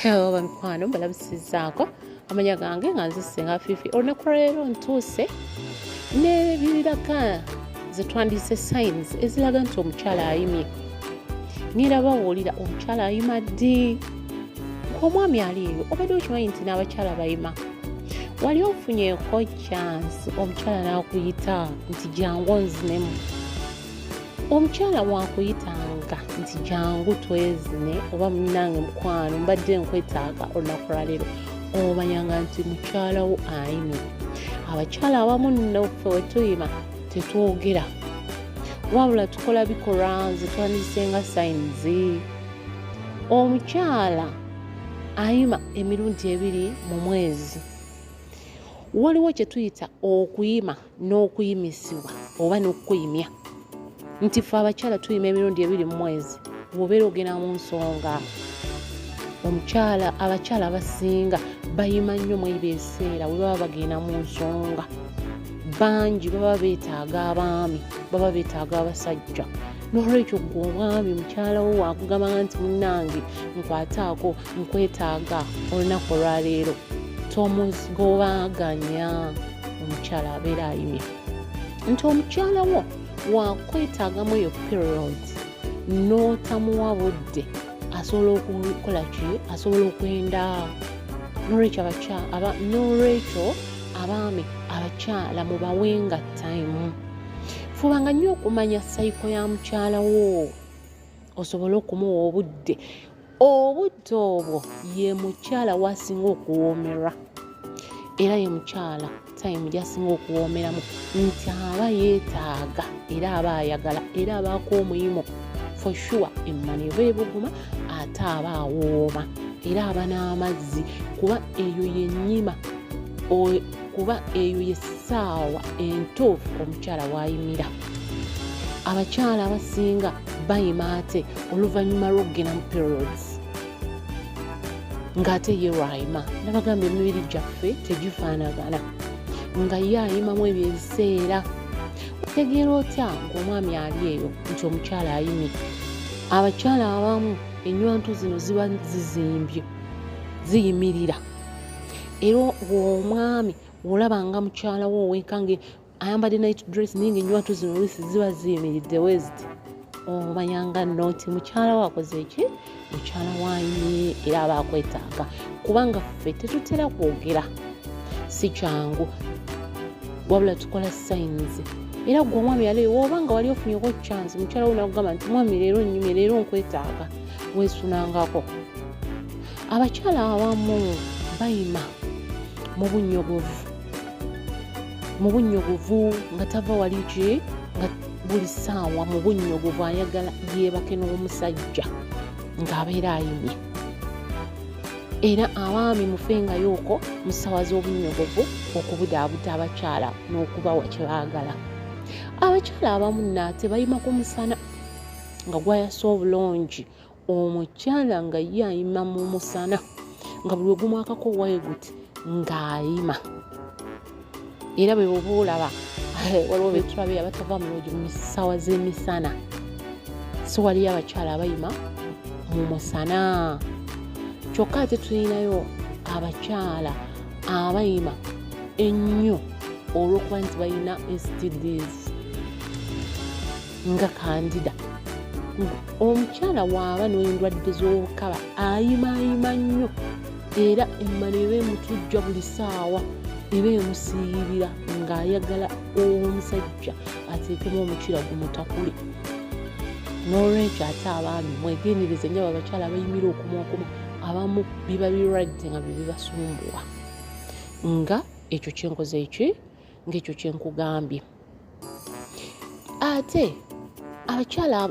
hello bamikwano mbalabusizaako amanya gange nga nze singa fifi olunaku lwaleero ntuuse nebiraga zetwandise signs eziraga nti omukyala ayimye nira bawulira omukyala ayima ddi omwami ali eyo obadde okimanyi nti n'abakyala bayima wali ofunyeko chance omukyala n'akuyita nti jangu onzinemu omukyala wankuyitanga nti jangu twezine oba munange mukwano mbadde nkwetaaga olunaku lwaleero omanyanga nti mukyalawo ayimi abakyala abamu noffe wetuyima tetwogera wabula tukola bikolwa nze twandisenga sayinizi omukyala ayima emirundi ebiri mu mwezi waliwo kye tuyita okuyima n'okuyimisibwa oba n'okukuyimya nti fe abakyala tuyima emirundi ebiri mu mwezi wobeera ogenda mu nsonga omukyala abakyala abasinga bayima nnyo mwebyo ebiseera we baba bagenda mu nsonga bangi baba beetaaga abaami baba beetaaga abasajja nolwekyo gwe omwami mukyala wo wakugamba nti munange nkwataako nkwetaaga olunaku olwaleero tomuzigobaganya omukyala abeera ayimye nti omukyala wo wakwetaagamu eyo period n'otamuwa budde asobola okukola ki asobola okwenda nolwekyo abakyala nolwekyo abaami abakyala mubawenga time fubanga nnyo okumanya sayiko ya mukyala wo osobole okumuwa obudde obudde obwo ye mukyala wasinga okuwoomerwa era ye mukyala time gyasinga okuwoomeramu nti aba yeetaaga era aba ayagala era abaako omuyimu for sure emmana eva ebuguma ate aba awooma era aba n'amazzi kuba eyo yennyima kuba eyo ye ssaawa entuufu omukyala waayimira abakyala abasinga bayima ate oluvannyuma lw'okugenda mu periods ng'ate ye lwayima nabagamba emibiri gyaffe tegifaanagana nga ye ayimamu ebyo ebiseera otegeera otya ng'omwami ali eyo nti omukyala ayimye abakyala abamu enywantu zino ziba zizimbye ziyimirira era omwami olaba nga mukyala wo oweka nga ayambadde night dress naye ngaenywatu zino olusi ziba ziyimiridde weziti omanyanga oh, noti mukyala wakoze eki mukyala wanyi era aba akwetaaga kubanga ffe tetutera kwogera si kyangu wabula tukola sayinizi era gwe omwami yaleyo woba nga wali ofunyeko chance mukyala wo nakugamba nti mwami leero nyumye leero nkwetaaga wesunangako abakyala abamu bayima mu bunyogovu mu bunnyogovu nga tava wali ki nga buli ssaawa mu bunnyogovu ayagala yeebake n'omusajja ng'abeera ayimye era abaami mufengayooko mu ssaawa z'obunnyogovu okubudaabuda abakyala n'okubawa kye baagala abakyala abamu naate bayima ku musana nga gwayasa obulungi omukyala nga ye ayima mu musana nga buli ogumwakako waeguti ng'ayima era bwe boba olaba eh, waliwo betulabe abatava mulogi mu ssaawa z'emisana si waliyo abakyala abayima mu musana kyokka ate tulinayo abakyala abayima ennyo olw'okuba nti balina stds nga kandida omukyala waaba n'endwadde z'obukaba ayimaayima nnyo era emmano eba emutujja buli saawa eba emusiiyirira ng'ayagala omusajja ateekemu omukira gumutakule n'olwekyo ate abaami mwegendereze nyo abakyala abayimira okumaokuma abamu biba birwadde nga byebibasumbuwa nga ekyo kyenkoze eki ngaekyo kyenkugambye ate abakyala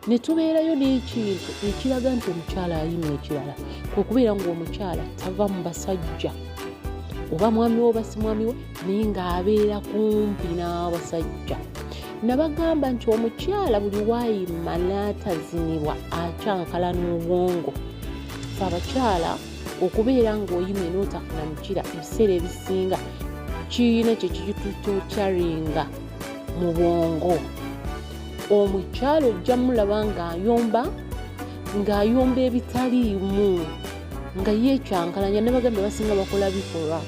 ne tubeerayo n'ekintu ekiraga nti omukyala ayina ekirala kwe kubeera ng'omukyala tava mu basajja oba mwami we oba si mwami we naye ng'abeera kumpi n'abasajja nabagamba nti omukyala buli waayima n'atazinibwa akyankala n'obwongo fe abakyala okubeera ng'oyimye n'otafuna mukira ebiseera ebisinga kiyina ekyo kikitutocaringa mu bwongo omukyalo ojja mulaba ng'ayomba ng'ayomba ebitaliimu nga yekyankalanya nebagambye basinga bakola bikolwa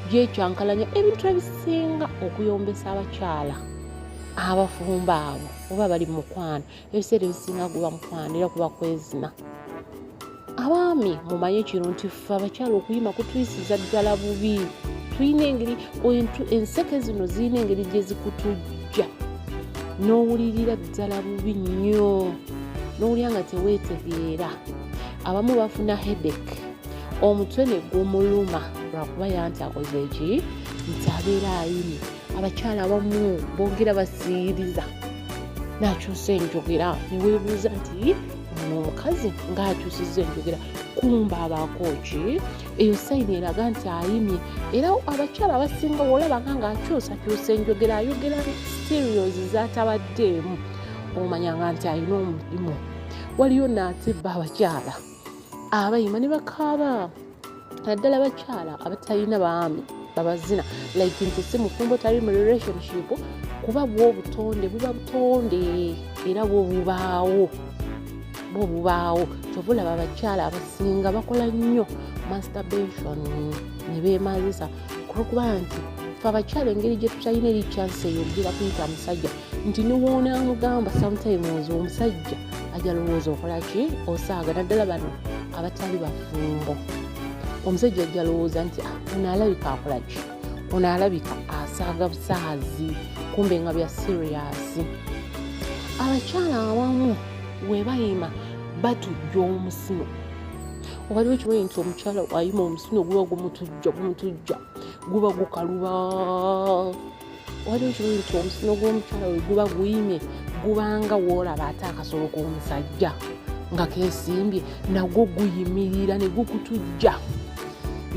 byekyankalanya ebintu ebisinga okuyombesa abakyala abafumba abo oba bali mukwano ebiseera ebisinga gwe bamukwano era kuba kwezima abaami mumanye kino nti ffe abakyala okuyima kutuyisiza ddala bubi tulina engeri enseke zino zirina engeri gye zikutujja n'owulirira ddala bubi nnyo n'owulira nga teweetegeera abamu bafuna hedek omutwe ne gumuluma lwakuba yanti akoze eki nti abeera ayini abakyala abamu bongera basiiriza nakyusa enjogera newebuuza nti ono omukazi ngaakyusiza enjogera kumba abaako ki eyo sayini eraga nti ayimye era abakyala abasinga wolabanga ngaakyusakyusa enjogera ayogera serios zatabaddeemu omanyanga nti alina omulimu waliyo naatibba abakyala abayima ne bakaaba naddala bakyala abatalina baami babazina like nti si mufumbo tali mu relationship kuba bwobutonde buba butonde era bwobubaawo bwobubaawo kyova olaba abakyala abasinga bakola nnyo masturbation ne beemazisa olwokuba nti fe abakyala engeri gye tutalina eri chansi eyo ogira kuyita musajja nti niwonaamugamba sometimes omusajja ajalowooza okola ki osaaga naddala bano abatali bafumbo omusajja ajalowooza nti ah, ono alabika akola ki ono alabika asaaga busaazi kumbe nga bya siriyasi abakyala awamu webayima batujja omusino waliwo ekimanyi nti omukyala ayima omusino guba gumutujja gumutujja guba gukaluba waliwo ekirungi nti omusino gw'omukyala we guba guyimye gubanga woolaba ate akasolo k'omusajja nga kesimbye nagwo guyimirira ne gukutujja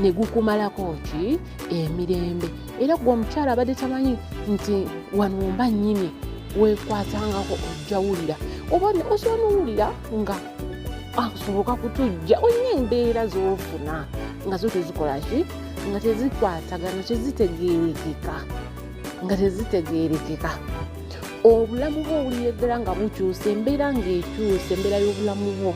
ne gukumalako ki emirembe era gwe omukyala abadde tamanyi nti wanumba nyini wekwatangako ojjawulira oba osobola nowulira nga asoboka kutujja olina embeera zofuna nga zo tezikolaki nga tezikwatagana tezitegeerekeka nga tezitegeerekeka obulamu bwo obulyegera nga bukyusa embeera ngaekyusa embeera y'obulamu bwo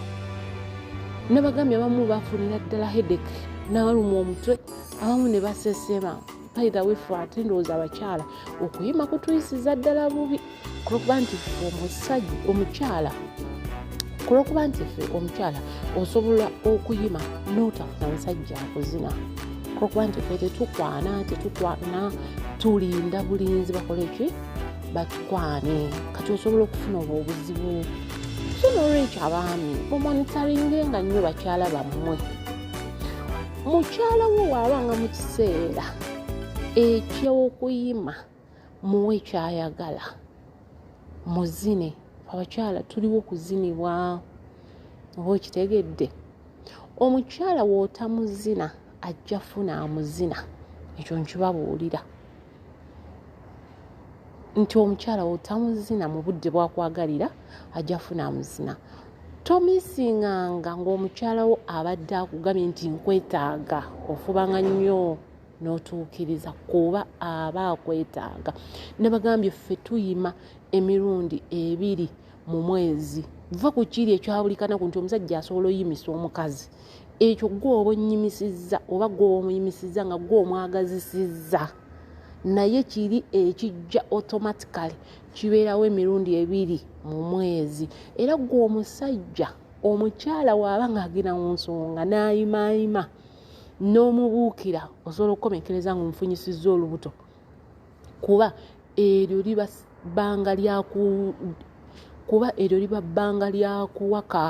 nabagambye abamu bafunira ddala hedek nabaluma omutwe abamu ne basesema baitha wefe ate ndowooza abakyala okuyima kutuyisiza ddala bubi kulokuba nti fe omusajja omukyala kulokuba nti fe omukyala osobola okuyima notafuna musajja akuzina kulokuba nti fe tetukwana tetukwana tulinda bulinzi bakoleki batukwane kati osobola okufuna obwo obuzibu so nolwekyo abaami mumonitaringe nga nnyo bakyala bammwe mukyala wo waabanga mu kiseera ekyokuyima muwe kyayagala muzine abakyala tuliwo kuzinibwa oba okitegedde omukyala wootamuzina ajja funa amuzina ekyo nkibabuulira nti omukyala wootamuzina mu budde bwakwagalira ajja funa amuzina tomisinganga ng'omukyalawo abadde akugambye nti nkwetaaga ofubanga nnyo n'otuukiriza kuba aba akwetaaga nabagambye ffe tuyima emirundi ebiri mu mwezi va ku kiri ekyabulikanaku nti omusajja asobola oyimisa omukazi ekyo gwe oba onnyimisizza oba gwe oba omuyimisizza nga gwe omwagazisizza naye kiri ekijja automatically kibeerawo emirundi ebiri mu mwezi era gwe omusajja omukyala waaba ng'agenda mu nsonga n'ayimaayima n'omubuukira osobola okukomekereza nga omufunyisizza olubuto kuba eryo liba bbanga lyaku kuba eryo liba bbanga lyakuwaka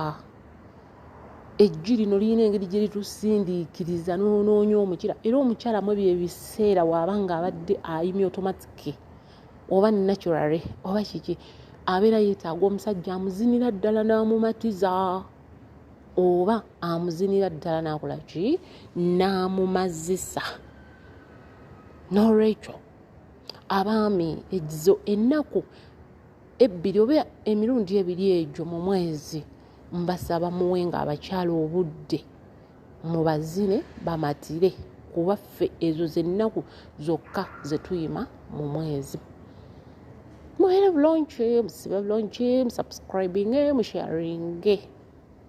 ejju lino lirina engeri gye litusindiikiriza nonoonya omukyala era omukyala mu ebyo ebiseera waaba nga abadde ayimya otomatike oba naturary oba kiki abeera yeetaaga omusajja amuzinira ddala n'amumatiza oba amuzinira ddala nakola ki n'amumazisa n'olwekyo abaami ezo ennaku ebbiri oba emirundi ebiri egyo mu mwezi mbasaba muwe nga abakyala obudde mubazine bamatire kuba ffe ezo zennaku zokka zetuyima mu mwezi mubeere bulungi musibe bulungi musubscribinge musharinge